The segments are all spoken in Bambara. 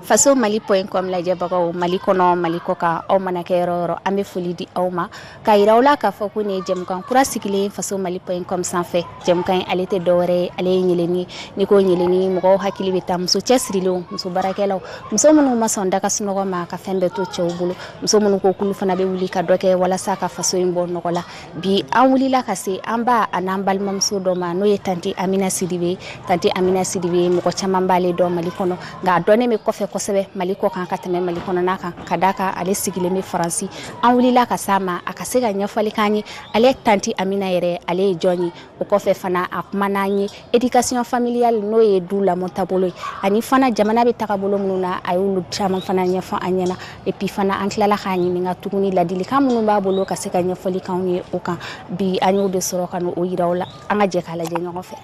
faso mali point com lajɛbagaw mali kɔnɔ mali kɔ kan aw mana kɛ yɔrɔ yɔrɔ an bɛ foli di aw ma ka yira aw la k'a fɔ ko nin ye jɛmukan kura sigilen faso mali point com sanfɛ jɛmukan in ale tɛ dɔwɛrɛ ye ale ye ɲeleni n'i ko ɲeleni mɔgɔw hakili bɛ taa muso cɛsirilenw muso baarakɛlaw muso minnu ma sɔn daga sunɔgɔ ma ka fɛn bɛɛ to cɛw bolo muso minnu ko k'olu fana bɛ wuli ka dɔ kɛ walasa ka faso in bɔ nɔgɔ la bi an wulila ka se an ba an'an balimamuso dɔ ma n'o ye tanti amina sidibe tanti amina sidibe mɔgɔ caman b'ale dɔn mali kɔnɔ nka a dɔnnen bɛ kɔfɛ kosɛbɛ mali kɔ kan ka tɛmɛ mali kɔnɔna kan ka d'a kan ale sigilen bɛ faransi an wulila ka s'a ma a ka se ka ɲɛfɔli k'an ye ale tanti amina yɛrɛ ale ye jɔn ye o kɔfɛ fana a kuman'an ye éducation familiale n'o ye du lamɔ taabolo ye ani fana jamana bɛ tagabolo minnu na a y'olu caman fana ɲɛfɔ an ɲɛna et puis fana an tilala k'a ɲininka tuguni ladilikan minnu b'a bolo ka se ka ɲɛfɔli k'anw ye o kan bi an y'o de sɔrɔ ka n'o yira aw la an ka jɛ k'a lajɛ ɲɔgɔn fɛ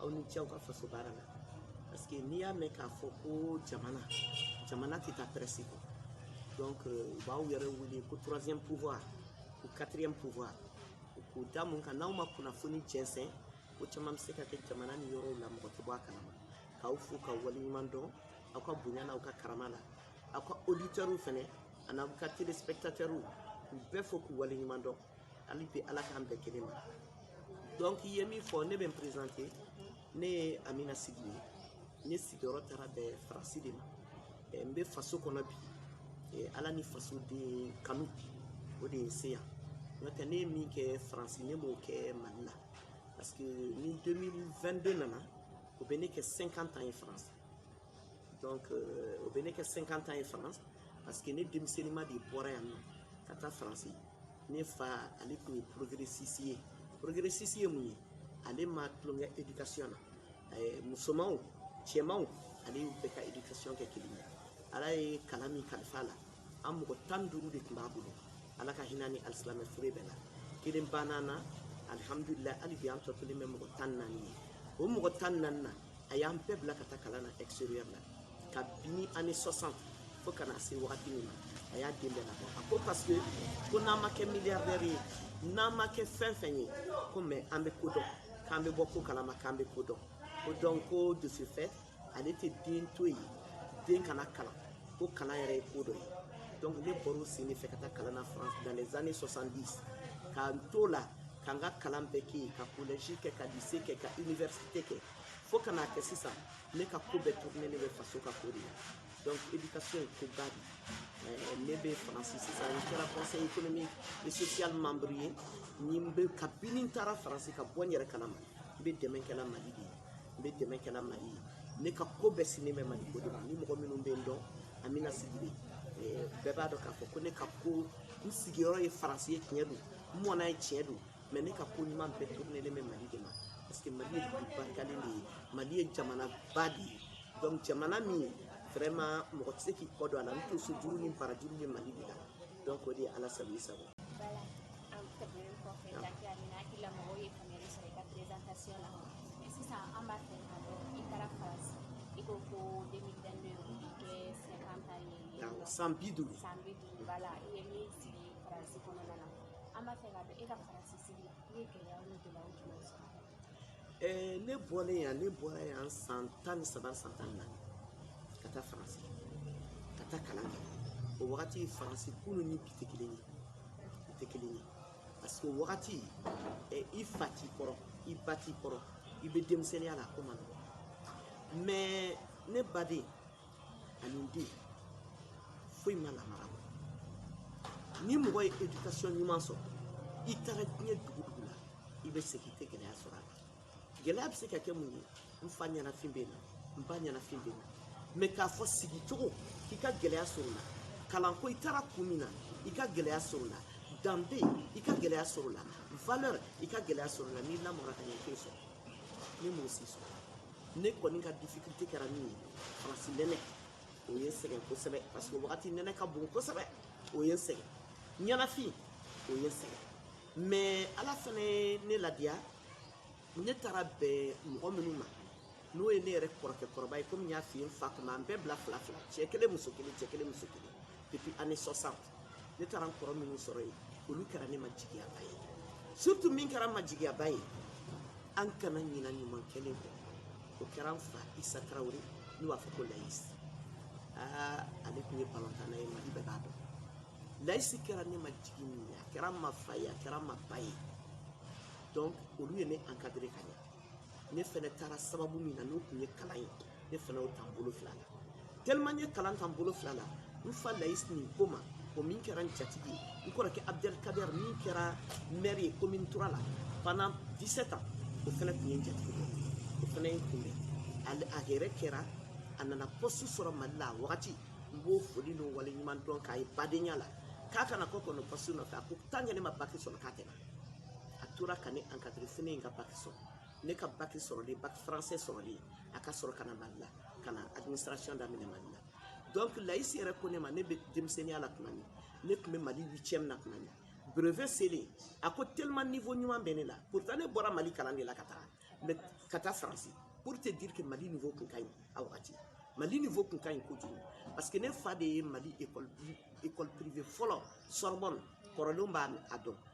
aw ni ce aw ka faso baara la parce que n'i y'a mɛn k'a fɔ ko jamana jamana tɛ taa presse kɔ donc euh, u b'aw yɛrɛ wele ko troisième pouvoir ou quatrième pouvoir k'o da mun kan n'aw ma kunnafoni jɛnsɛn ko caman bɛ se ka kɛ jamana ni yɔrɔw la mɔgɔ tɛ bɔ a kalama k'aw fo k'aw waleɲuman dɔn aw ka bonya n'aw ka karama la aw ka auditeurs fɛnɛ an'aw ka téléspectateurs k'u bɛɛ fo k'u waleɲuman dɔn hali bi ala k'an bɛɛ kelen ma donc i ye min fɔ ne bɛ n présenter ne ye amina sidibe ye ne sigiyɔrɔ taara bɛn faransi de ma eh, n bɛ faso kɔnɔ bi eh, ala ni faso den kanu o de ye n se yan n'o tɛ ne ye min kɛ faransi ne m'o kɛ mali la parce que ni 2022 nana o bɛ ne kɛ 50 ans ye faransi donc euh, o bɛ ne kɛ 50 ans ye France parce que ne denmisɛnninma de bɔra yan nɔ ka taa France ne fa ale tun ye progressiste ye progressiste ye mun ye ale ma tulonkɛ éducation na eh, musomanw cɛmanw ale y'u bɛɛ ka éducation kɛ kelen ye ala ye kalan min kalifa a la an mɔgɔ tan ni duuru de tun b'a bolo ala ka hinɛ ni alisilamɛ fure bɛɛ la kelen bann'an na alihamudulila hali bi an tɔ kɛlen bɛ mɔgɔ tan ni naani ye o mɔgɔ tan ni naani na a y'an bɛɛ bila ka taa kalan na extérieur la kabini années 60 fo ka na se wagati min ma a y'a den bɛɛ labɔ a ko parce que ko n'an ma kɛ milliardaire ye n'an ma kɛ fɛn fɛn ye ko mais an bɛ ko dɔn k'an bɛ bɔ ko kalama k'an bɛ ko dɔn ko donc ko de ce fait ale tɛ den to yen den kana kalan ko kalan yɛrɛ ye ko dɔ ye donc ne bɔr'o sen de fɛ ka taa kalan na france dans les années 70 k'an t'o la ka n ka kalan bɛɛ kɛ yen ka collège kɛ ka lycée kɛ ka université kɛ fo ka n'a kɛ sisan ne ka ko bɛɛ tournelen bɛ faso ka ko de la donc éducation ye koba de ye ne bɛ faransi sisan n kɛra conseil économique et social membre ye ni n bɛ kabini n taara faransi ka bɔ n yɛrɛ kalama n bɛ dɛmɛ kɛla mali de ye n bɛ dɛmɛ kɛla mali ye ne ka ko bɛɛ sinnen bɛ mali ko de ma ni mɔgɔ minnu bɛ n dɔn amina sidibe bɛɛ b'a dɔn k'a fɔ ko ne ka ko n sigiyɔrɔ ye faransi ye tiɲɛ don n mɔna yen tiɲɛ don mais ne ka ko ɲuman bɛɛ tournelen bɛ mali de ma parce que mali ye dugu barikalen de ye mali ye jamanaba de ye donc jamana min vraiment mɔgɔ tɛ se k'i kɔ don a la n tonsojuru ni barajuru bɛ mali de la donc o de ye ala sago i sago sisan an b'a fɛ ka dɔn i taara faransi i ko ko 2022 o bɛ kɛ 50 ye san bi duuru san bi duuru voilà i ye min sigi faransi kɔnɔna na an b'a fɛ ka dɔn e ka faransi sigi la i ye gɛlɛya ni gɛlɛyaw jumɛn sɔrɔ ɛɛ ne bɔlen yan ne bɔra yan san tan ni saba san tan ni naani ka taa faransi ka taa kalan kɛ o wagati faransi kunun ni bi tɛ kelen ye bi tɛ kelen ye parce que o wagati ɛ i fa t'i kɔrɔ i ba t'i kɔrɔ i bɛ denmisɛnninya la a ko man nɔgɔn mais ne baden ani n den foyi ma lamara bɔ ni mɔgɔ ye éducation ɲuman sɔrɔ i taara diɲɛ dugu o dugu la i bɛ segin i tɛ gɛlɛya sɔrɔ a la gɛlɛya bɛ se ka kɛ mun ye n fa ɲɛnafin bɛ n na n ba ɲɛnafin bɛ n na mais k'a fɔ sigi cogo k'i ka gɛlɛya sɔrɔ o la kalanko i taara kun min na i ka gɛlɛya sɔrɔ o la danbe i ka gɛlɛya sɔrɔ o la valeur i ka gɛlɛya sɔrɔ o la n'i lamɔra ka ɲɛ i t'o sɔrɔ ne m'o si sɔrɔ ne kɔni ka difficulté kɛra min ye faransi nɛnɛ o ye n sɛgɛn kosɛbɛ parce que o wagati nɛnɛ ka bon kosɛbɛ o ye n sɛgɛn ɲɛnafin o ye n sɛgɛn mais ala fana ye ne ladiya ne taara bɛn mɔgɔ minnu ma n'o ye ne yɛrɛ kɔrɔkɛ kɔrɔba ye komi n y'a f'i ye n fa tun b'an bɛɛ bila fila fila cɛ kelen muso kelen cɛ kelen muso kelen depuis année 60 ne taara n kɔrɔ minnu sɔrɔ yen olu kɛra ne ma jigiyaba ye surtout min kɛra n ma jigiyaba ye an kana ɲina ɲuman kɛlen kɔ o kɛra n fa isa tarawele n'u b'a fɔ ko layisi aa ale tun ye balontanna ye mali bɛɛ b'a dɔn layisi kɛra ne ma jigi min ye a kɛra n ma fa ye a kɛra n ma ba ye donc olu ye ne encadré ka ɲɛ ne fɛnɛ taara sababu min na n'o tun ye kalan ye ne fana y'o ta n bolo fila la tellement n ye kalan ta n bolo fila la n fa layisi nin ko ma o min kɛra n jatigi ye n kɔrɔkɛ abdel kader min kɛra maire ye commune trois la pendant 17 ans o fana tun ye n jatigi dɔ o fana ye n kunbɛn a yɛrɛ kɛra a nana poste sɔrɔ mali la a wagati n b'o foli n'o waleɲuman dɔn k'a ye badenya la k'a kana kɔ kɔnɔ poste nɔfɛ a ko tant que ne ma baki sɔrɔ k'a tɛ na a tora ka ne encadrer fo ne ye n ka baki sɔrɔ ne ka baki sɔrɔlen baki français sɔrɔlen a ka sɔrɔ ka na mali la ka na administration daminɛ mali la donc layisi yɛrɛ ko ne ma ne bɛ denmisɛnninya la tuma min ne tun bɛ mali huitième na tuma min brevet selen a ko tellement niveau ɲuman bɛ ne la pourtant ne bɔra mali kalan de la ka taa mais ka taa faransi pour te dire que mali niveau tun ka ɲi a wagati mali niveau tun ka ɲi kojugu parce que ne fa de ye mali école privée fɔlɔ sorbonne kɔrɔlenw b'a dɔn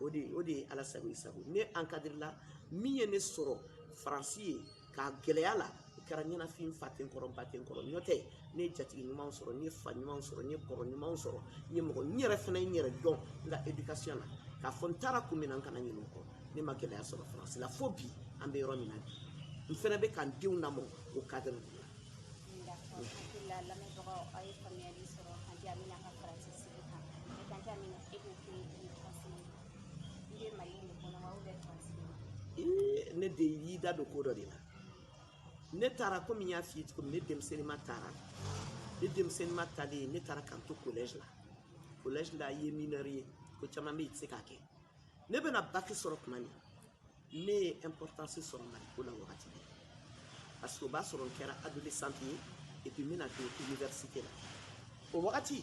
o de o de ye ala sago i sago ne encadrer la min ye ne sɔrɔ faransi ye k'a gɛlɛya la o kɛra ɲɛnafin fa tɛ n kɔrɔ ba tɛ n kɔrɔ n'o tɛ ne ye jatigi ɲumanw sɔrɔ n ye fa ɲumanw sɔrɔ n ye kɔrɔ ɲumanw sɔrɔ n ye mɔgɔ n yɛrɛ fana n yɛrɛ dɔn n ka éducation na k'a fɔ n taara kun min na n kana ɲinɛ o kɔ ne ma gɛlɛya sɔrɔ faransi la fo bi an bɛ yɔrɔ min na bi n fana bɛ ka n denw lamɔ o cadre de la. D'accord. Hakili la lamɛnbagaw aw ye faamuyali sɔrɔ tante amina ka faransi ne de y'i da don ko dɔ de la ne taara komi n y'a f'i ye cogo min ne denmisɛnninma taara ne denmisɛnninma taalen ne taara ka n to collège la collège la i ye mineur ye ko caman bɛ yen i tɛ se k'a kɛ ne bɛna baki sɔrɔ tuma min ne ye importance sɔrɔ mali ko la wagati de parce que o b'a sɔrɔ n kɛra adolescente ye et puis n bɛna don université la o wagati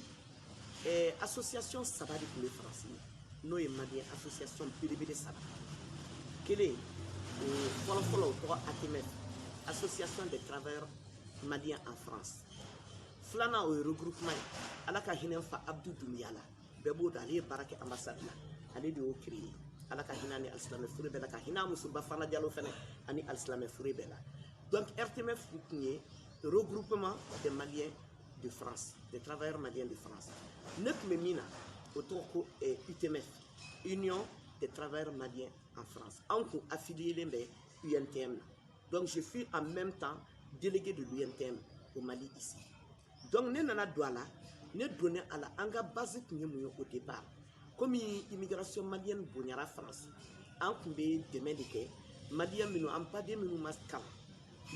eh, association saba de tun bɛ faransi yen n'o ye maliyɛn association belebele saba kelen o fɔlɔfɔlɔ o tɔgɔ atmf association des travailleurs maliens en france filanan o ye regroupement ye ala ka hinɛ n fa abdu dumbiya la bɛɛ b'o dɔn ale ye baara kɛ ambassade la ale de y'o créer ala ka hinɛ a ni alisilamɛ fure bɛɛ la ka hinɛ a muso bafana jalo fana ani alisilamɛ fure bɛɛ la donc rtmf tun ye regroupement des maliens de france des travailleurs maliens de france ne tun bɛ min na o tɔgɔ ko utmf union des travailleurs maliens en france anw kun affiliélen bɛ untm na donc je fus en même temps délégué de l'untm au mali ici donc ne nana don a la ne donnen a la an ka base tun ye mun ye au départ komi immigration malienne bonyara faransi an tun bɛ dɛmɛ de kɛ maliyɛn minnu an baden minnu ma kalan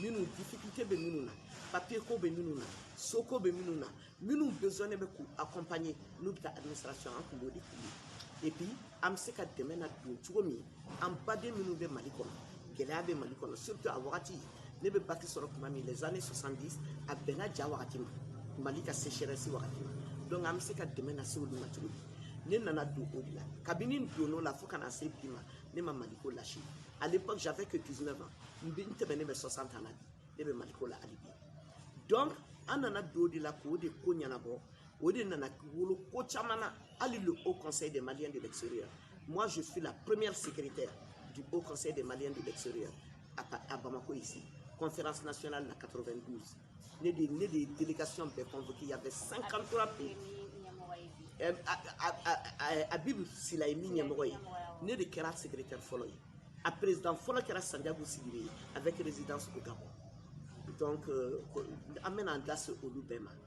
minnu difficulté bɛ minnu na papier ko bɛ minnu na soko bɛ minnu na minnu besoin bɛ k'u accompagner n'u bɛ taa administration an tun b'o de k'u ye et puis an bɛ se ka dɛmɛ na don cogo min an baden minnu bɛ mali kɔnɔ gɛlɛya bɛ mali kɔnɔ surtout a wagati ne bɛ bac sɔrɔ tuma min les années 70 a bɛnna ja wagati ma mali ka sécheresse wagati ma donc an bɛ se ka dɛmɛ na se olu ma cogo di ne nana don o de la kabini n donn'o la fo ka na se bi ma ne ma maliko lâché à l'époque j'avais que 19 ans n bɛ n tɛmɛnen bɛ 60 ans na bi ne bɛ maliko la hali bi donc an nana don o de la k'o de ko ɲɛnabɔ o de nana wolo ko caman na hali le haut conseil des maliens de l'extérieur moi je suis la première secrétaire du haut conseil des maliens de l'extérieur à, à bamako ici conférence nationale la 92 ne de ne de délégation bɛɛ convoqué il y avait 53 pays habib sylla ye min ɲɛmɔgɔ ye ne de kɛra secrétaire fɔlɔ ye a président fɔlɔ kɛra sanjago sigiri ye avec résidence au gabon donc euh, an bɛna an da se olu bɛɛ ma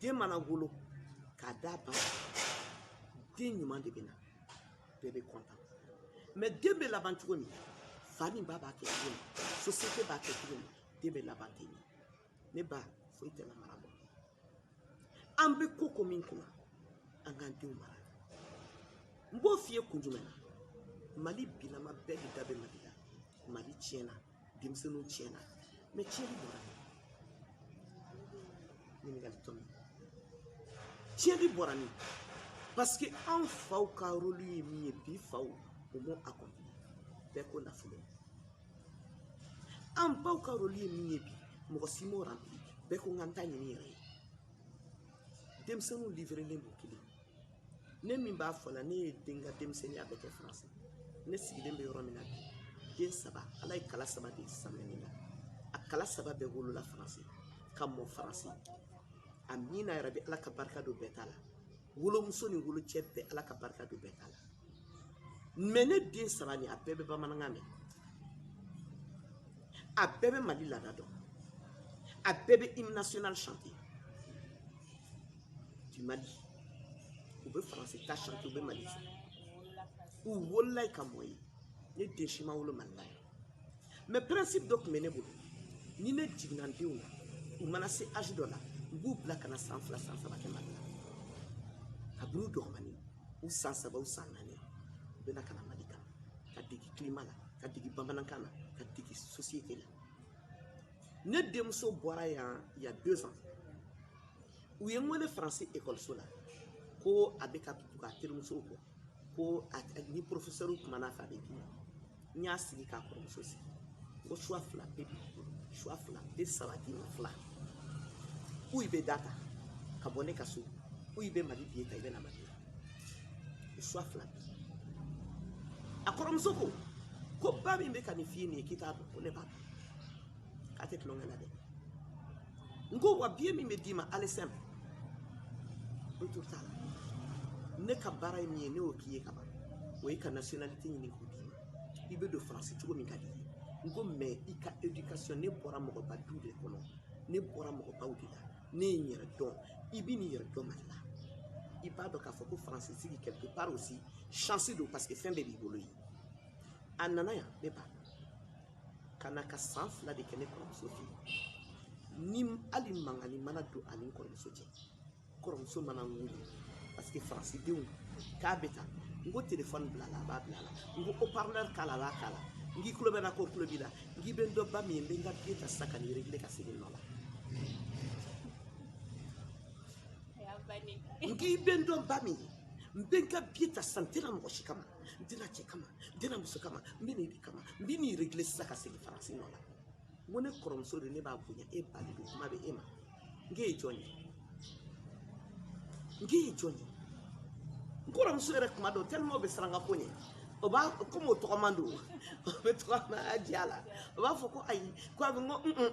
den mana wolo k'a d'a ba den ɲuman de bɛ na bɛɛ bɛ kɔntan mɛ den bɛ laban cogo min fa ni ba b'a kɛ cogo min sosiyete b'a kɛ cogo min den bɛ laban ten de ne ba foyi tɛ lamara bɔ an bɛ ko ko min kunna an k'an denw mara n b'o f'i ye kun jumɛn na mali bilama bɛɛ de da bɛ mali la mali tiɲɛna denmisɛnninw tiɲɛna mɛ tiɲɛni bɔra min ɲininkali tɔ min tiɲɛni bɔra min parce que an faw ka rolu ye min ye bi faw o m'o accompli bɛɛ ko nafolo an baw ka rolu ye min ye bi mɔgɔ si m'o ranpili bɛɛ ko n ka n ta ɲini yɛrɛ ye denmisɛnninw livrelen don kelen ne min b'a fɔ la ne ye den ka denmisɛnninya bɛɛ kɛ faransi ne sigilen bɛ yɔrɔ min na bi den saba ala ye kala saba de sama ne la a kala saba bɛɛ wolola faransi ka mɔ faransi amiina yarabi ala ka barika don bɛɛ ta la wolomuso ni wolocɛ bɛɛ ala ka barika don bɛɛ ta la mɛ ne den saba nin a bɛɛ bɛ bamanankan mɛn a bɛɛ bɛ mali laada dɔn a bɛɛ bɛ hymne national chanter du Mali u bɛ faransi ta chanter u bɛ mali fɛ u wolola ka mɔ yen ne den si ma wolo mali la yan mɛ pɛrɛnsipu dɔ tun bɛ ne bolo ni ne jiginna n denw na u mana se azi dɔ la n b'u bila ka na san fila san saba kɛ mali la kabini u dɔgɔmani u san saba u san naani u bɛ na ka na mali kan ka degi kilima la ka degi bamanankan na ka degi sosiyete la ne denmuso bɔra yan y a deux ans u ye n wele faransi ekɔliso la ko a bɛ ka tugu a terimusow kɔ ko ni porofesɛriw kumana fɛ a bɛ dimi n y'a sigi k'a kɔrɔmuso sigi ko choix fila bɛ choix fila bɛ saba d'i ma fila ou i bɛ da ta ka bɔ ne ka so ou i bɛ mali biye ta i bɛ na mali la o choix fila bɛ a kɔrɔmuso ko ko ba min bɛ ka nin f'i ye nin ye k'i t'a dɔn ko ne b'a dɔn a tɛ tulonkɛ la dɛ n ko wa biye min bɛ d'i ma aller simple retour t'a la ne ka baara ye min ye ne y'o k'i ye ka ban o ye ka nationalité ɲini k'o d'i ma i bɛ don faransi cogo min ka di i ye n ko mais i ka éducation ne bɔra mɔgɔba du de kɔnɔ ne bɔra mɔgɔbaw de la ne ye n yɛrɛ dɔn i bɛ n'i yɛrɛ dɔn mali la i b'a dɔn k'a fɔ ko faransi sigi quelque part aussi chance don parce que fɛn bɛɛ b'i bolo ye a nana yan ne b'a dɔn ka na ka san fila de kɛ ne kɔrɔmuso fɛ ni hali mankannin mana don a ni n kɔrɔmuso cɛ kɔrɔmuso mana n wele parce que faransidenw k'a bɛ tan n ko telefɔni bila la a b'a bila la n ko haut-parleur k'a la a b'a k'a la n k'i tulo bɛ n na ko tulo b'i la n k'i bɛ n dɔn ba min ye n bɛ n ka biye ta sisan ka n'i regile ka segin nɔ la n k'i bɛ n dɔn ba min ye n bɛ n ka biye ta sisan n tɛna mɔgɔ si kama n tɛna cɛ kama n tɛna muso kama n bɛ n'e de kama n bɛ n'i regile sisan ka segin faransi nɔ la n ko ne kɔrɔmuso de ne b'a bonya e ba de don kuma bɛ e ma n k'e ye jɔn ye n k'e ye jɔn ye n kɔrɔmuso yɛrɛ kuma dɔw tellement o bɛ siran n ka ko ɲɛ o b'a komi o tɔgɔman don o bɛ tɔgɔma a diya la o b'a fɔ ko ayi ko a bɛ n ko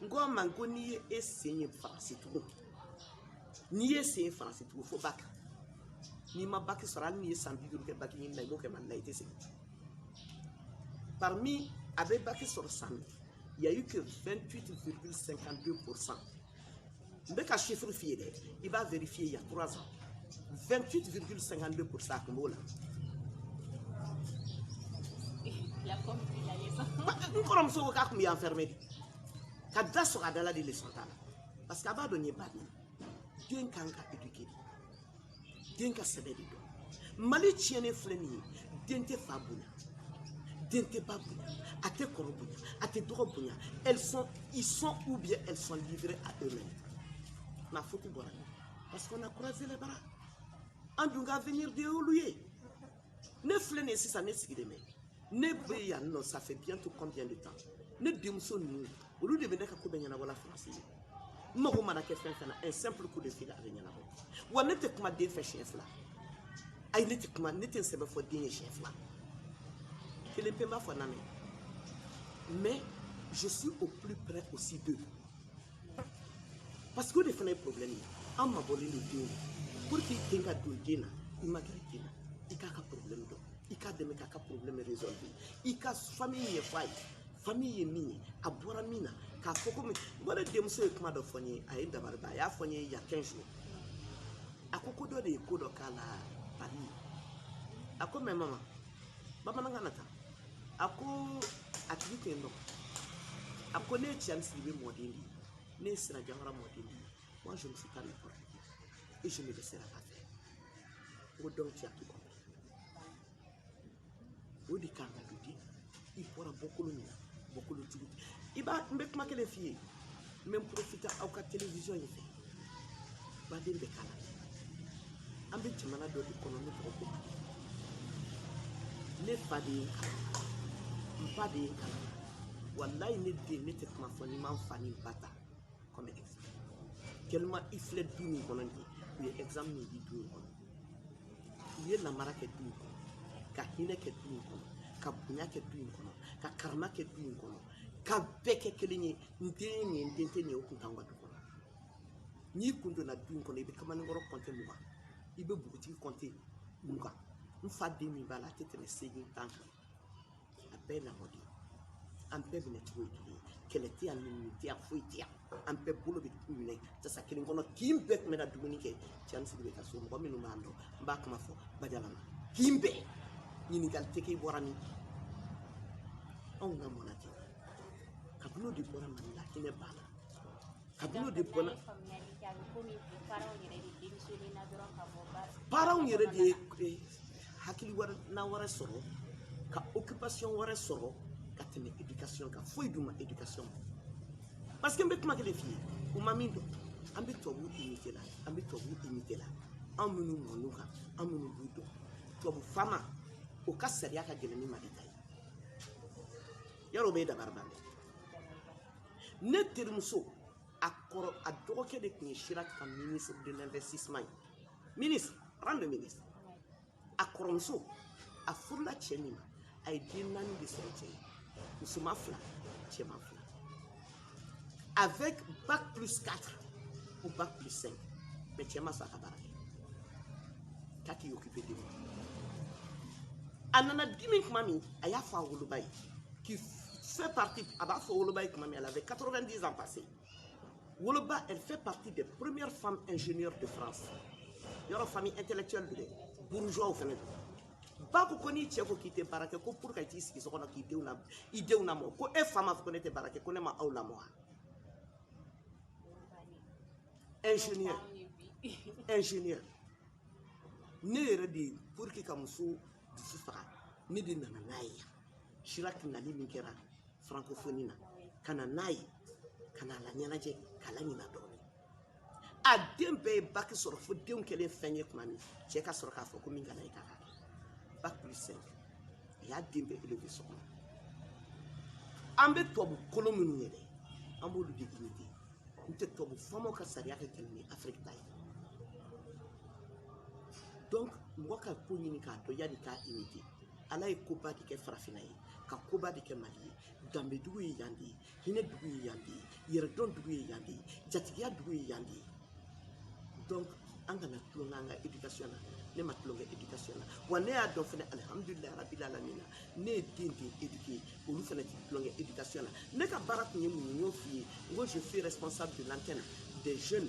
n k'a ma n ko n'i ye e sen ye faransi tugun n'i ye sen ye faransi tugun fo baki n'i ma baki sɔrɔ hali n'i ye san bi duuru kɛ baki ɲini na i b'o kɛ mali la i tɛ segin parmi a bɛ baki sɔrɔ san il y a eu que 28,52% n bɛ ka chiffre f'i ye dɛ i b'a vérifier il y a trois ans 28 virgule 52 pour cent a tun b'o la n kɔrɔmuso ko k'a tun bɛ enfermé de ka da sɔgɔ a da la de leçon ta la parce que a b'a dɔn n ye ba min ye den kan ka éduquer de den ka sɛbɛ de dɔn mali tiɲɛnen filɛ nin ye den tɛ fa bonya den tɛ ba bonya a tɛ kɔrɔ bonya a tɛ dɔgɔ bonya elles sont ils sont ou bien elles sont livrées à eux-mêmes ma faute bɔra parce qu'on a croisé les bras an dun ka avenir de y'olu ye ne filɛ nin ye sisan ne sigilen bɛ ne bɛ yan nɔ ça fait bientôt combien de temps ne denmuso ninnu olu de bɛ ne ka ko bɛɛ ɲɛnabɔ la faransi yen n mago mana kɛ fɛn fɛn na un simple coup de fil a bɛ ɲɛnabɔ wa ne tɛ kuma den fɛ siɲɛ fila ayi ne tɛ kuma ne tɛ n sɛbɛ fɔ den ye siɲɛ fila kelen pe n b'a fɔ na mais je suis au plus près aussi d'eux parce que o de fana ye problème ye an mabɔlen don denw na pour que den ka don den na i ma gɛrɛ den na i k'a ka problème dɔn i k'a dɛmɛ k'a ka problème résolve i ka famille ɲɛfɔ a ye famille ye min ye a bɔra min na k'a fɔ komi ne denmuso ye kuma dɔ fɔ n ye a ye n dabari ban a y'a fɔ n ye y a 15 jours a ko ko dɔ de ye ko dɔ k'a la Paris a ko mais maman bamanankan na tan a ko a tigi tɛ ne dɔn a ko ne ye cɛni sidibe mɔden de ye ne ye sira jawara mɔden de ye moi je ne suis pas n'importe qui et je ne laisserai pas faire n ko donc tu as tout compris o de kan ka don den i bɔra bɔkolo min na bɔkolo jugu i b'a n bɛ kuma kelen f'i ye n bɛ n profiter aw ka télévision in fɛ baden bɛ kalan an bɛ jamana dɔ de kɔnɔ n'a tɔgɔ ko mali ne fa de ye n kalan n ba de ye n kalan walayi ne den ne tɛ kuma fɔ ni n ma n fa ni n ba ta comme exemple tellement i filɛ du min kɔnɔ nin ye u ye exemple min di du in kɔnɔ u ye lamara kɛ du in kɔnɔ ka hinɛ kɛ du in kɔnɔ ka bonya kɛ du in kɔnɔ ka karama kɛ du in kɔnɔ ka bɛɛ kɛ kelen ye n den nin ye n den tɛ nin ye o kun t'anw ka du kɔnɔ n'i kun donna du in kɔnɔ i bɛ kamalenkɔrɔ kɔnte mugan i bɛ npogotigi kɔnte mugan n fa den min b'a la a tɛ tɛmɛ seegin tan kan a bɛɛ ye lamɔden ye an bɛɛ minɛ cogo ye kelen ye kɛlɛ tɛ yan nɛni tɛ yan foyi tɛ yan an bɛɛ bolo bɛ minɛ tasa kelen kɔnɔ kin bɛɛ tun bɛ na dumuni kɛ cɛni sidibe ka so mɔgɔ minnu b'an dɔn n b'a kuma fɔ bajalama kin bɛɛ ɲininkali tɛ k'i bɔra min anw lamɔna ten kabini o de bɔra mali la hinɛ banna kabini o de bɔra paranw yɛrɛ de ye hakilina wɛrɛ sɔrɔ ka occupation wɛrɛ sɔrɔ ka tɛmɛ éducation kan foyi dun ma éducation ma parce que n bɛ kuma kelen f'i ye u ma min dɔn an bɛ tubabu imite la an bɛ tubabu imite la anw minnu mɔn'u kan anw minnu b'u dɔn tubabu faama o ka sariya ka gɛlɛn ni mali ta ye yɔrɔ o b'i dabari ban dɛ ne terimuso a kɔrɔ a dɔgɔkɛ de tun ye Chirac ka ministre de l'investissement ye ministre rang de ministre a kɔrɔmuso a furula cɛ min ma a ye den naani de sɔrɔ cɛ ye musoman fila cɛman fila avec bac plus 4 ou bac plus 5 mais cɛ ma sɔn a ka baara kɛ k'a k'i occupe denw na a nana dimi tuma min a y'a fɔ a woloba ye qui fait partie a b'a fɔ a woloba ye tuma min elle avait 90 ans passés woloba elle fait partie des premières femmes ingénieurs de France yɔrɔ famille intellectuelle don dɛ bourgeois fana don ba ko ko n'i cɛ ko k'i tɛ baara kɛ ko pour ka t'i sigi so kɔnɔ k'i denw la i denw lamɔ ko e fa m'a fɔ ko ne tɛ baara kɛ ko ne ma aw lamɔ wa ingénieur ingénieur ne yɛrɛ de ye pour que ka muso dusu faga ne de nana n'a ye yan Chirac nali min kɛra francophonie na ka na n'a ye ka na a laɲɛnajɛ k'a laɲina dɔɔni a den bɛɛ ye bac sɔrɔ fo denw kɛlen fɛn ye tuma min cɛ ka sɔrɔ k'a fɔ ko min kana ye k'a kɛ bac plus cinq a y'a den bɛɛ élever so kɔnɔ an bɛ tubabu kolon minnu ye dɛ an b'olu de imiter n tɛ tubabu famaw ka sariya ka gɛlɛn ni Afrique ta ye donc mɔgɔ ka ko ɲini k'a dɔn yanni k'a imiter ala ye koba de kɛ farafinna ye ka koba de kɛ Mali ye danbedugu ye yan de ye hinɛ dugu ye yan de ye yɛrɛdɔn dugu ye yan de ye jatigiya dugu ye yan de ye donc an kana tulon k'an ka éducation na ne ma tulon kɛ éducation na wa ne y'a dɔn fana alihamudulilahi rabil alamina ne ye den den éduquer olu fana tɛ tulon kɛ éducation na ne ka baara tun ye mun ye n y'o f'i ye n ko je suis responsable de l'antenne des jeunes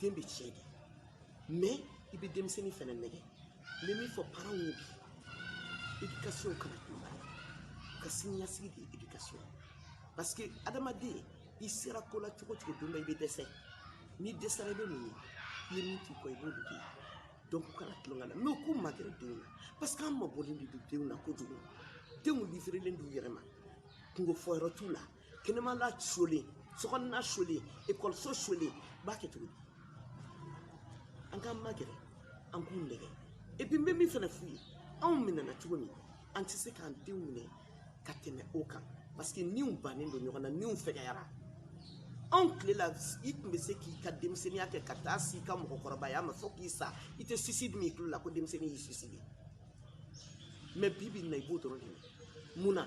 den bɛ tiɲɛ de mais i bɛ denmisɛnnin fana nɛgɛ n bɛ min fɔ parents ye bi éducation kana to u ka siniɲɛsigi de ye éducation parce que adamaden i sera ko la cogo cogo don dɔ i bɛ dɛsɛ n'i dɛsɛra i bɛ mun ye i ye min t'i kɔ i b'o de kɛ donc u kana tulon k'a la mais u k'u magɛrɛ denw na parce que an mabɔlen de don denw na kojugu denw livrelen d'u yɛrɛ ma kunko fɔyɔrɔ t'u la kɛnɛmala sulen sokɔnɔna sulen ekɔliso sulen u b'a kɛ cogo di an k'an magɛrɛ an k'u nɛgɛ et puis n bɛ min fana f'u ye anw minɛna cogo min an tɛ se k'an denw minɛ ka tɛmɛ o kan parce que niw bannen don ɲɔgɔn na niw fɛgɛyara anw tile la i tun bɛ se k'i ka denmisɛnninya kɛ ka taa s'i ka mɔgɔkɔrɔbaya ma fo k'i sa i tɛ suicide mɛn i tulo la ko denmisɛnnin y'i suicide mais bi bi in na i b'o dɔrɔn de ye mun na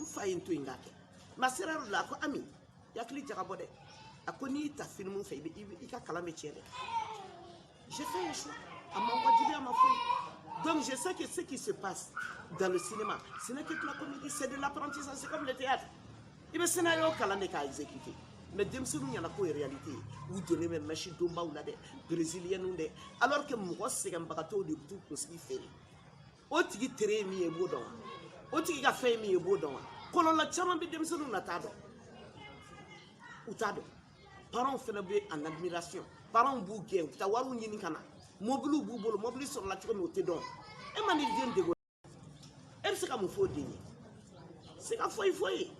n fa ye n to yen k'a kɛ masera yɔrɔ la a ko Ami i hakili jagabɔ dɛ a ko n'i y'i ta filimu fɛ i ka kalan bɛ tiɲɛ dɛ j'ai fait un choix a ma wajibi a ma foyi donc je sais que ce qui se passe dans le cinéma ce n'est que de la comédie c'est de l'apprentissage c'est comme le théâtre i bɛ scénario kalan de k'a exécuter mais denmisɛnninw ɲɛ na k'o ye réalité ye u donnen bɛ mɛsi donbaw la dɛ brésilienninw dɛ alors que mɔgɔ sɛgɛnbagatɔw de b'u kunsigi feere o tigi tere ye min ye i b'o dɔn wa o tigi ka fɛn ye min ye i b'o dɔn wa kɔlɔlɔ caman bɛ denmisɛnninw na t'a dɔn u t'a dɔn parents fana bɛ en admiration parents b'u gɛn u bɛ taa wariw ɲini ka na mobiliw b'u bolo mobili sɔrɔla cogo min o tɛ dɔn e ma n'i den dege e bɛ se ka mun fɔ o den ye se ka foyi f'o ye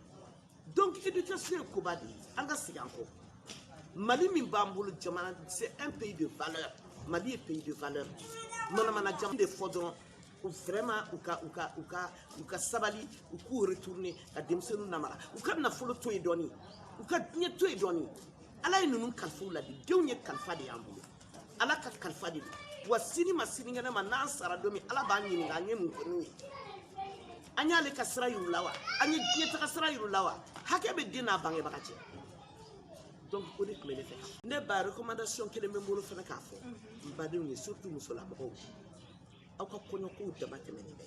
donc éducation ye koba de ye an ka segin an kɔ mali min b'an bolo jamana c'est un pays de valeur mali ye pays de valeur de ye manamana jamana tɛ fɔ dɔrɔn vraiment u ka u ka u ka u ka sabali u k'u retourner ka denmisɛnninw namara u ka nafolo to yen dɔɔni u ka diɲɛ to yen dɔɔni ala ye ninnu kalifa u la dɛ denw ye kalifa de y'an bolo ala ka kalifa de don wa sini ma sinikɛnɛ ma n'an sara don min ala b'an ɲininka an ye mun kɛ n'u ye an y'ale ka sira yir'u la wa an ye diɲɛ taga sira yir'u la wa hakɛ bɛ den n'a bangebaga cɛ donc o de tun bɛ ne fɛ ne ba recommandation kelen bɛ n bolo fana k'a fɔ n badenw ye surtout musolamɔgɔw aw ka kɔɲɔkow damatɛmɛnen bɛ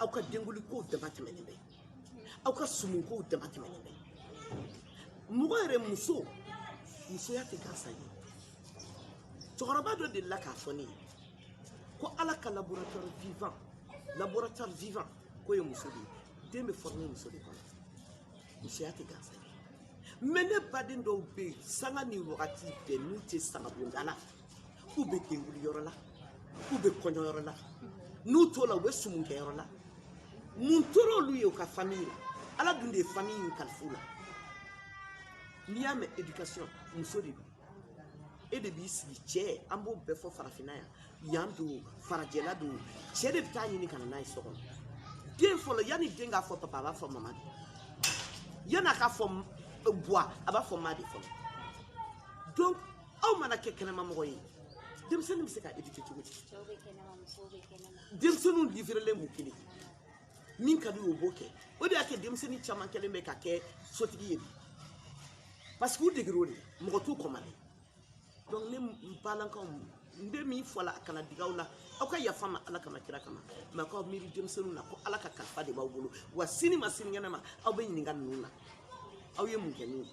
aw ka denkulikow damatɛmɛnen bɛ aw ka sumunkow damatɛmɛnen bɛ mɔgɔ yɛrɛ muso musoya tɛ gansan ye cɛkɔrɔba dɔ delila k'a fɔ ne ye ko ala ka laboratoire vivant laboratoire vivant k'o ye muso de ye den bɛ former muso de kɔnɔ musoya tɛ gansan ye mais ne baden dɔw bɛ yen sanga ni wagati bɛɛ n'u tɛ sangabonda la k'u bɛ denkuli yɔrɔ la k'u bɛ kɔɲɔ yɔrɔ la n'u t'o la u bɛ sumunkɛ yɔrɔ la mun tora olu ye u ka famille la ala dun de ye famille in kalif'u la n'i y'a mɛn éducation muso de don e de b'i sigi cɛ an b'o bɛɛ fɔ farafinna yan yan don farajɛla don cɛ de bɛ taa ɲini ka na n'a ye so kɔnɔ den fɔlɔ yanni den k'a fɔ papa a b'a fɔ mama de yanni a k'a fɔ buwa a b'a fɔ ma de fɔlɔ donc aw mana kɛ kɛnɛma mɔgɔ ye denmisɛnnin bɛ se ka éduquer cogo di denmisɛnninw livrelen b'u kelen min ka di o b'o kɛ o de y'a kɛ denmisɛnnin caman kɛlen bɛ ka kɛ sotigi ye bi parce que u degero de mɔgɔ t'u kɔmale donc ne balankaw n bɛ min fɔ la a kana dig'aw la aw ka yafa ma ala kama kira kama mais k'aw miiri denmisɛnninw na ko ala ka kalifa de b'aw bolo wa sini ma sinikɛnɛ ma aw bɛ ɲininka ninnu na aw ye mun kɛ n'u ye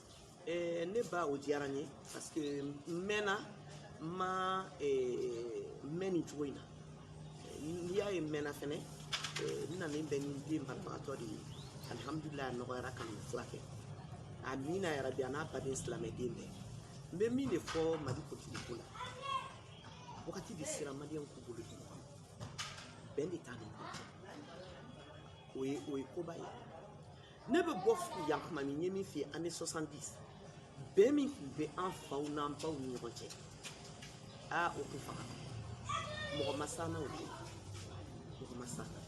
Eh, ne ba o diyara n ye parce que n mɛnna n ma eh, mɛn nin cogo in na n'i y'a ye n mɛnna fɛnɛ eh, n nanen bɛ ni den banabagatɔ de ye alihamudulila a nɔgɔyara ka nin furakɛ amiina yarabi a n'an baden silamɛden bɛɛ n bɛ min de fɔ mali politikiko la wagati de sera maliyɛnw k'u bolo di ɲɔgɔn ma bɛn de t'an ni ɲɔgɔn cɛ o ye o ye koba ye ne bɛ bɔ yan kuma min n ye min f'i ye année 70 bɛn min tun bɛ an faw n'an baw ni ɲɔgɔn cɛ aa o tɛ faga mɔgɔ ma s'an na o de ye mɔgɔ ma s'an na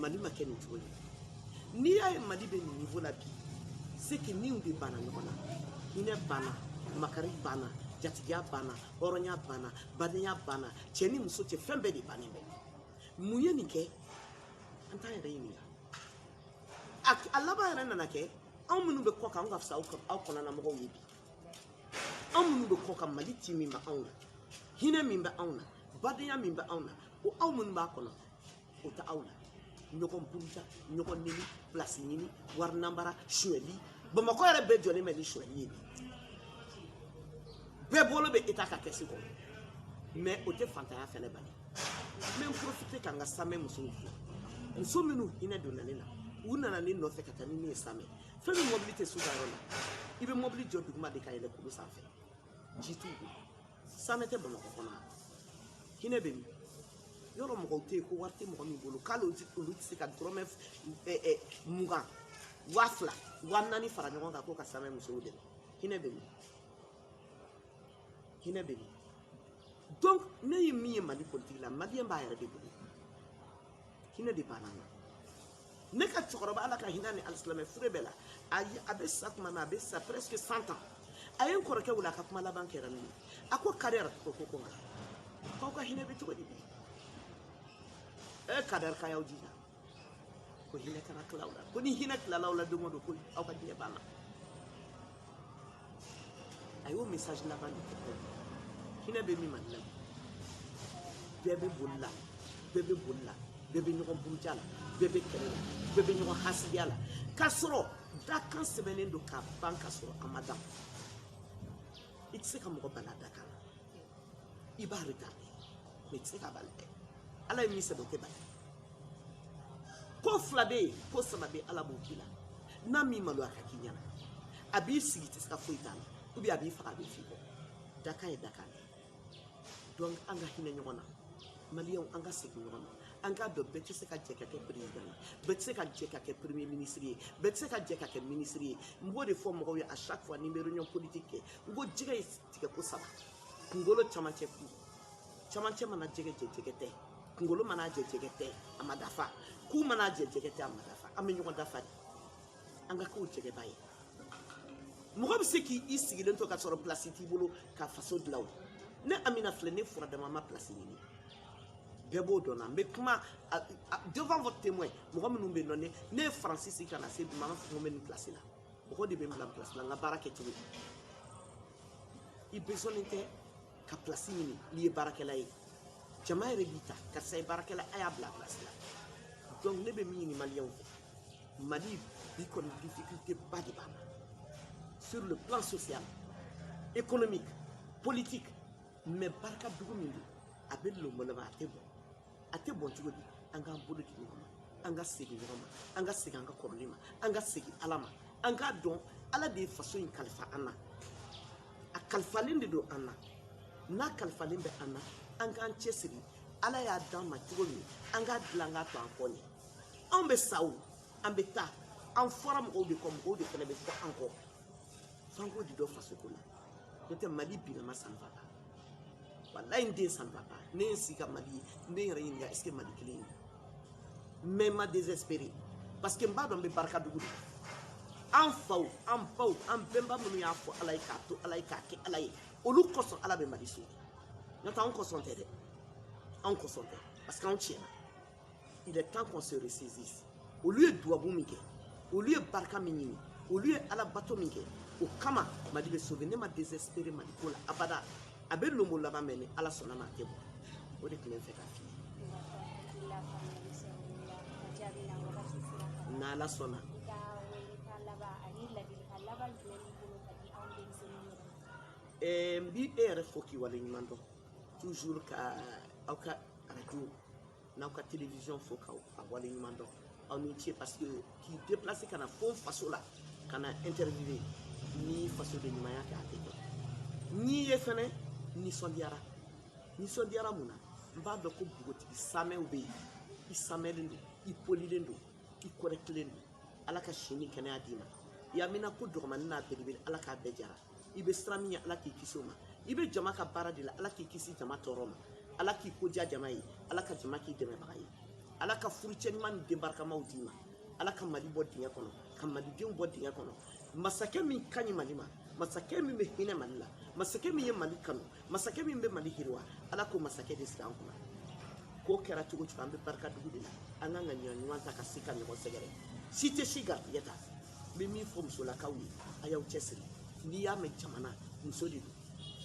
mali ma kɛ nin cogo ye n'i y'a ye mali bɛ nin niveau la bi c'est que niw de banna ɲɔgɔn na hinɛ banna makari banna jatigiya banna hɔrɔnya banna badenya banna cɛ ni muso cɛ fɛn bɛɛ de bannen bɛ mun ye nin kɛ an t'an yɛrɛ ɲininka a laban yɛrɛ nana kɛ anw minnu bɛ kɔkan anw ka fisa aw kɔnɔna mɔgɔw ye bi anw minnu bɛ kɔkan mali ti min bɛ anw na hinɛ min bɛ anw na badenya min bɛ anw na o aw minnu b'a kɔnɔ o tɛ aw la ɲɔgɔn buruja ɲɔgɔn neni pilasi ɲini wari nanbara sonyali bamakɔ yɛrɛ bɛɛ jɔlen bɛ ni sonyali ye bɛɛ bolo bɛ eta ka kɛsi kɔnɔ mais o tɛ fantanya fɛnɛ bali n bɛ n porofite ka n ka samɛ musow fo muso minnu hinɛ donna ne la u nana ne nɔfɛ ka taa ni ne ye samɛ fɛn min mɔbili tɛ s'u ka yɔrɔ la i bɛ mɔbili jɔ duguma de ka yɛlɛ kulu sanfɛ ji t'u bolo samɛ tɛ bamakɔ kɔnɔ hinɛ bɛ min yɔrɔ mɔgɔw tɛ yen ko wari tɛ mɔgɔ min bolo k'ale olu tɛ se ka dɔrɔmɛ mugan waa fila waa naani fara ɲɔgɔn kan ko ka samɛ musow dɛmɛ hinɛ bɛ min hinɛ bɛ min donc ne ye min ye mali politiki la maliyɛn b'a yɛrɛ de bolo hinɛ de banna an na ne ka cɛkɔrɔba ala ka hin'a ni alisilamɛ fure bɛɛ la a bɛ sa tuma na a bɛ sa presque cent ans a ye n kɔrɔkɛ wele a ka kuma laban kɛra min ye a ko kadɛri ko ko ko nka k'aw ka hinɛ bɛ cogo di bi e kadɛri k'a y'aw jija ko hinata na kalawla ko ni hinat la lawla duma do ko aw ka diya bana ayo message la ban ko hina be mi man la be be bolla be be bolla be be nyogon burja la be be kere la be be nyogon hasidiya la ka sɔrɔ dakan sɛbɛnnen don ka ban ka sɔrɔ a ma dan i tɛ se ka mɔgɔ bana dakan i b'a retarder mais i tɛ se k'a bali dɛ ala ye min sɛbɛn o tɛ bali ko fila bɛ yen ko saba bɛ ala b'o k'i la n'a m'i maloya k'a k'i ɲɛna a b'i sigi i tɛ se ka foyi t'a la ou bien a b'i faga a bɛ f'i kɔ dakan ye dakan de donc an ka hinɛ ɲɔgɔn na maliyɛnw an ka segin ɲɔgɔn ma an k'a dɔn bɛɛ tɛ se ka jɛ ka kɛ perezidan ye bɛɛ tɛ se ka jɛ ka kɛ premier minisiri ye bɛɛ tɛ se ka jɛ ka kɛ minisiri ye n b'o de fɔ mɔgɔw ye à chaque fois ni n bɛ réunion politique kɛ n ko jɛgɛ ye tigɛko saba kunkolo camancɛ ku camancɛ mana jɛgɛ jɛ jɛgɛ tɛ kunkolo mana jɛ jɛgɛ tɛ a ma dafa ku mana jɛ jɛgɛ tɛ a ma dafa an bɛ ɲɔgɔn dafa de an ka k'o jɛgɛba ye mɔgɔ bɛ se k'i sigilen to ka sɔrɔ pilasi t'i bolo ka faso dilan o ne amina filɛ ne fura dama ma pilasi ɲini bɛɛ b'o dɔn na n bɛ kuma devant votre témoin mɔgɔ minnu bɛ nɔ ne ne ye faransi sigi ka na se bi ma n m'a fɔ ko n bɛ nin pilasi la mɔgɔ de bɛ n bila pilasi la n ka baarakɛcogo i besonnen tɛ ka pilasi ɲini n'i ye baarakɛla ye jama yɛrɛ b'i ta karisa ye baarakɛla a y'a bila pilasi la donc ne bɛ min ɲini maliyɛnw fɛ mali bi kɔni difficulté ba de b'a la sur le plan social économique politique mais barika dugu min don a bɛ lomaloma a tɛ bɔn a tɛ bɔn cogo di an k'an bolo di ɲɔgɔn ma an ka segin ɲɔgɔn ma an ka segin an ka kɔrɔlen ma an ka segin ala ma an k'a dɔn ala de ye faso in kalifa an na a kalifalen de don an na n'a kalifalen bɛ an na an k'an cɛsiri ala y'a d'an ma cogo min an k'a dilan k'a to an kɔ ɲɛ anw bɛ sa o an bɛ taa an fɔra mɔgɔw de kɔ mɔgɔw de fana bɛ fɔ an kɔ f'an k'o de dɔn fasoko la n'o tɛ mali binna ma sanfa la walayi n den san papa ne ye n sigi ka mali ye n ye n yɛrɛ ɲininka est ce que mali kelen ye mais n ma désespéré parce que n b'a dɔn an bɛ barika dugu de an faw an baw an bɛnba minnu y'a fɔ ala ye k'a to ala ye k'a kɛ ala ye olu kosɔn ala bɛ mali sauver n'o tɛ anw kosɔn tɛ dɛ anw kosɔn tɛ parce que anw tiɲɛna il est temps qu'on se ressaisisse olu ye duwabu min kɛ olu ye barika min ɲini olu ye ala bato min kɛ o kama mali bɛ sauver ne ma désespéré mali ko la abada a bɛ lonbolanba mais ni ala sɔnna ma a tɛ bɔn o de tun bɛ n fɛ k'a f'i ye n'ala sɔnna n bi e yɛrɛ fo k'i wale ɲuman dɔn toujours ka aw ka arajo n'aw ka télévision fo k'aw wale ɲuman dɔn aw ni ce parce que k'i déplacer ka na fo faso la ka na interviewer ni fasoden ɲumanya tɛ a tɛ kɛ n'i ye fɛnɛ nisɔndiyara nisɔndiyara mun na n b'a dɔn ko npogotigi samɛw bɛ yen i samɛlen don i polilen don i kɔrɛtilen don ala ka si ni kɛnɛya d'i ma i haminanko dɔgɔmani n'a belebele ala k'a bɛɛ jara i bɛ siran min ɲɛ ala k'i kisi o ma i bɛ jama ka baara de la ala k'i kisi jama tɔɔrɔ ma ala k'i ko diya jama ye ala ka jama k'i dɛmɛbaga ye ala ka furucɛ ɲuman ni denbarikamaw d'i ma ala ka mali bɔ dingɛ kɔnɔ ka malidenw bɔ dingɛ kɔnɔ masakɛ min ka ɲi mali ma masakɛ min bɛ hinɛ mali la masakɛ min ye mali kanu masakɛ min bɛ mali yiriwa ala k'o masakɛ de sigi an kunna k'o kɛra cogo cogo an bɛ barika dugu de la an kan ka ɲɔgɔn ɲuman ta ka se ka ɲɔgɔn sɛgɛrɛ si tɛ si garijɛgɛ ta n bɛ min fɔ musolakaw ye a y'aw cɛsiri n'i y'a mɛn jamana muso de don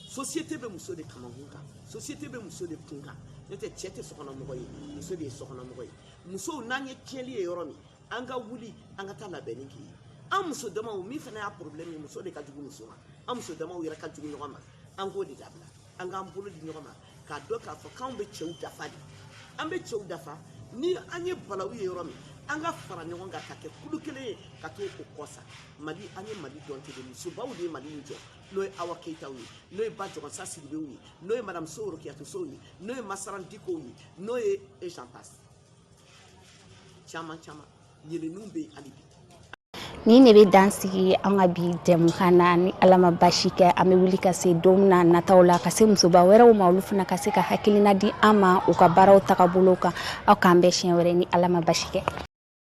société bɛ muso de kamankun kan société bɛ muso de kun kan n'o tɛ cɛ tɛ sokɔnɔmɔgɔ ye muso de ye sokɔnɔmɔgɔ ye musow n'an ye tiɲɛli ye yɔrɔ min an ka wuli an ka taa labɛnni kɛ yen an muso damaw min fana y'a problème ye muso de ka jugu muso ma an muso damaw yɛrɛ ka jugu ɲɔgɔn ma an k'o de dabila an k'an bolo di ɲɔgɔn ma k'a dɔn k'a fɔ k'anw bɛ cɛw dafa de an bɛ cɛw dafa ni an ye balawu ye yɔrɔ min an ka fara ɲɔgɔn kan ka kɛ kulu kelen ye ka t'o kɔsa mali an ye mali dɔn ten de musobaw de ye mali in jɔ n'o ye awa keyitaw ye n'o ye ba jɔgɔnsa sidibew ye n'o ye madame sow orokiyatu sow ye n'o ye masaran dikow ye n'o ye et j'en passe caman caman Yɛlɛlenw bɛ hali bi. Nin de bɛ dan sigi an ka bi jɛmukan na ni Ala ma basi kɛ an bɛ wuli ka se don n'a nataw la ka se musoba wɛrɛw ma olu fana ka se ka hakilina di an ma u ka baaraw tagabolo kan aw k'an bɛn siɲɛ wɛrɛ ni Ala ma basi kɛ.